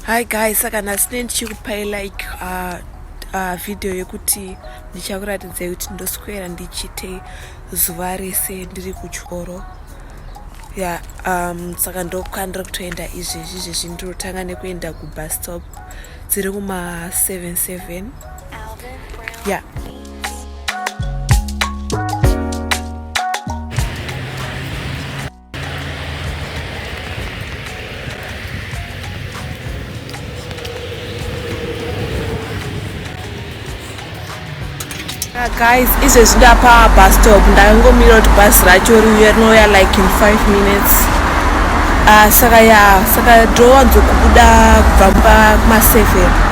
hi guys saka nhasi ne ndichikupai like uh, uh, video yekuti ndichakuratidzai kuti ndoswera ndichiitei zuva rese ndiri kuchikoro ya um, saka ndokwandiri kutoenda izvezvi izvezvi ndirotanga nekuenda kubus stop dziri kuma 77 ya yeah. guys izvezvi ndapa bus stop ndangomira kuti bus racho riuya rinouya like in 5 minutes uh, saka ya saka ndowanzokubuda kubva kumaseven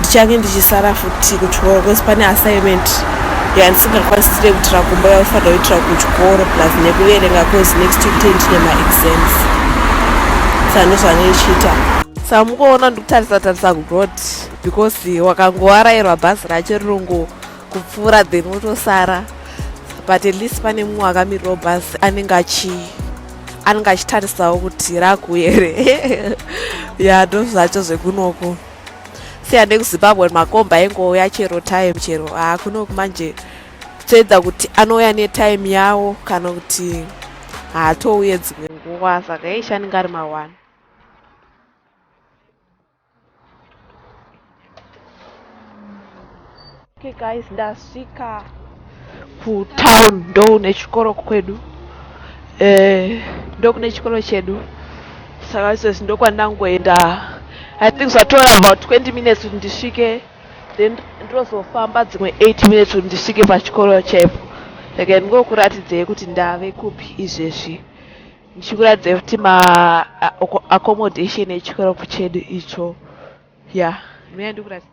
ndichange ndichisara futi kuchikoro bcause pane assignment yandisingakwanisisire kuitira kumba yaufanira kuitira kuchikoro plus nekuverenga cause next week ten tine maexams saka ndozvanoichiita saka mukuona ndikutarisa tarisa kuroad because wakangowarairwa bhazi racho rinongo kupfuura then wotosara but at least pane mumwe akamirirawo bhazi anenge achi anenge achitarisawo kuti rakuere ya ndozvacho zvekunoko siya nekuzimbabwe makomba aingouya chero time chero haa kunoku manje toedza kuti anouya netime yawo kana kuti haatouye dzimwe nguva saka eishi anenge ari mawani Okay guys, ndasvika kutown ndoune chikoro kwedu eh, ndokune chikoro chedu saka izvezvi ndokwandangoenda i think zvatora about 20 minutes kuti ndisvike then ndozofamba dzimwe 8 minutes kuti ndisvike pachikoro chaipo like ndingokuratidzei kuti ndave kupi izvezvi ndichikuratidzei kuti maaccommodation echikoro chedu icho ya yeah. mea ndikuratidza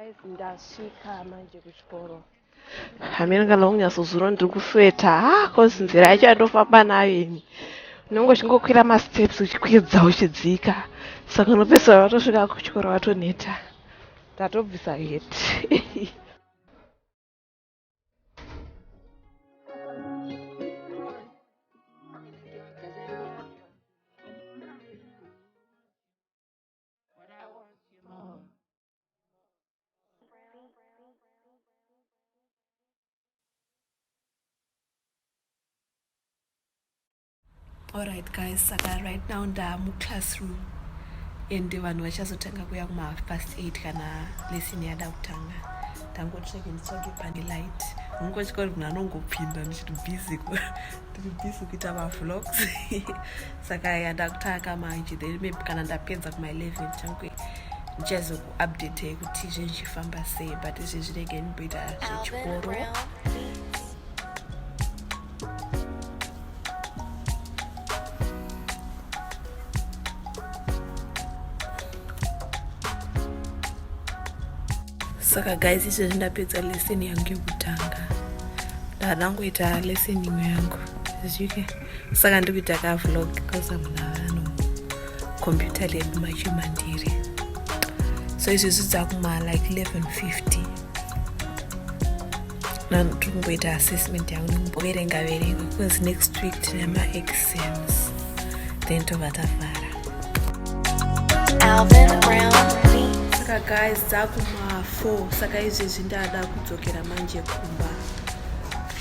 guys ndasvika manje kuchikoro hameno kana unyatsozuro ndiri kusweta ha ah, cause nzira yacho yandofamba nayo ini unenge uchingokwira masteps uchikwidza uchidzika saka unopesera vatosvika kuchikoro vatoneta tatobvisa heti alright guys saka right now ndamuclassroom and vanhu vachazotanga kuya kumahalf past 8 kana lesson yada kutanga ndangotsveke nditsvage pane light ungotya kuti munhu anongopinda ndichiti busy tiri busy kuita mavlogs saka ya ndakutanga manje then maybe kana ndapedza kuma 11 changwe ndichazokuupdate kuti zvinhu zvichifamba sei but izvi zvinenge ndimboita zvechikoro saka guys izvezvi ndapedza lesson yangu yekutanga ndadangoita lesson imwe yangu zvike saka ndiri kuita ka vlog because amuna vano computer lab machimandiri so izvezvi dzakumala like 1150 Mom, tomboita assessment yangu nomboverenga verenga because next week tine maexams then tobva tavhara saka guys dzakuma4 saka izvezvi ndada kudzokera manje kumba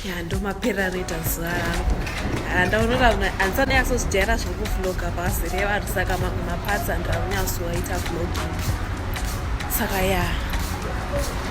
ya ndomapera reta zuva rangu handaonora handisanyasozijaira zvekuvloga pazere vanhu saka mamwe mapatsi handakunyasoaita vlogging saka ya yeah.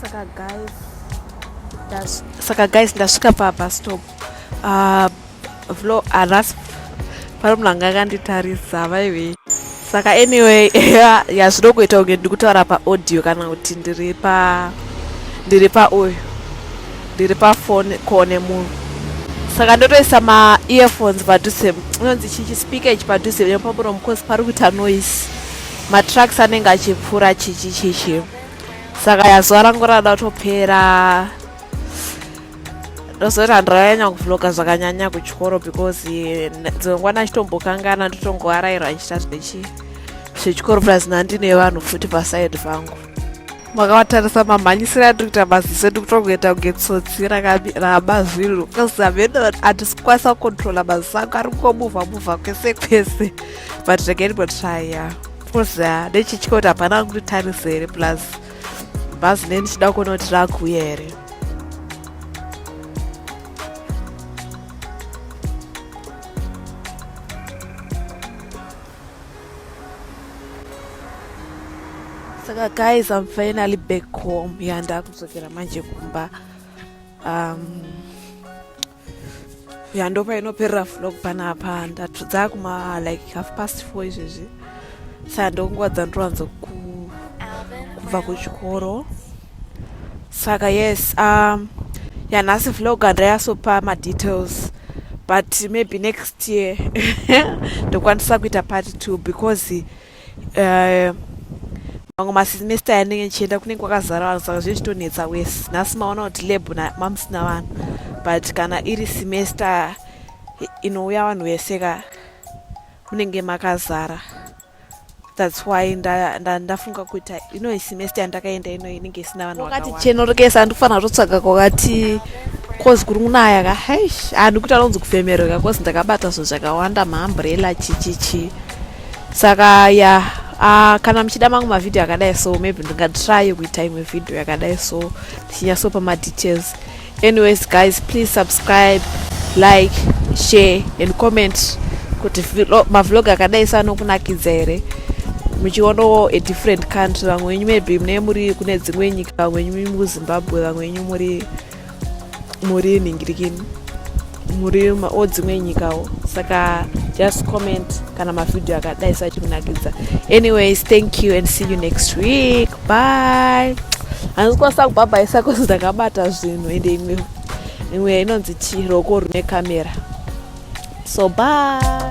saka guys saka guys ndasvika pabus stop uh, vlo aras pari munhu anga akanditarisa vaive saka anyway yazvino kuita kunge ndiri kutaura paaudio kana kuti ndiri pa ndiri pauyu ndiri pafone kone munhu saka ndotoisa maearphones padhuze inonzi chichi speaker ichi padhuze nepamuromo because pari kuita noise matrucks anenge achipfuura chichi chichi saka yazuva rangu rada kutopera ndozoti handirayanya kuvloga zvakanyanya kuchikoro because dzimwe nguva ndachitombokangana ndotongoarairwa ndichita zvechii zvechikoro plus nandine vanhu futi paside vangu makawatarisa mamhanyisira atiri kuita maziso edu kutongoita kunge tsotsi ramazwiro bcause hameno hatisikwanisa kukontrola maziso angu ari kungomuvha muvha kwese kwese but regenbo trya bcause ah, nechitya kuti hapana angu nditarise here plus bhazi ne ndichida kuona kuti rakuuya here saka guys am finally back home ya ndakudzokera manje kumba um, ya ndopa inoperera vlog panapa ndatudza kuma like half past four izvezvi saka ndonguva dzandinowanzo kubva kuchikoro saka yes um, yanhasi vlog andayasopa madetails but maybe next year ndokwanisa kuita part two because uh, mamwe masemester yanenge ndichienda kunenge kwakazara vanhu saka zvechitonetsa wese nhasi maona kuti lab mamusina vanhu but kana iri semester inouya vanhu vese ka munenge makazara that's why ndafunga kuita ino semester yandakaenda ino inenge isina vanhu wakati chenorekesa andifanira totsvaga kwakati cause kuri kunaya ka haish handikuti anonzi kufemereka cause ndakabata zvinhu zvakawanda maambrella chichichi saka ya uh, kana muchida mangu mavhidhiyo akadai so maybe ndingatrye kuita imwe vhidhiyo yakadai so tichinyasopa madetails anyways guys please subscribe like share and comment kuti mavlog akadai sanokunakidza here muchionawo a different country vamwe wenyu maybe mune muri kune dzimwe nyika vamwe wenyu muri muzimbabwe vamwe wenyu muri muri nhingirikini muri odzimwe nyikawo saka just comment kana mavhidhiyo akadai sachikunakidza anyways thank you and see you next week bye hanzi kwasa kubhabhaisa kozi ndakabata zvinhu ende imwe imwe inonzi chii roko rune kamera so bye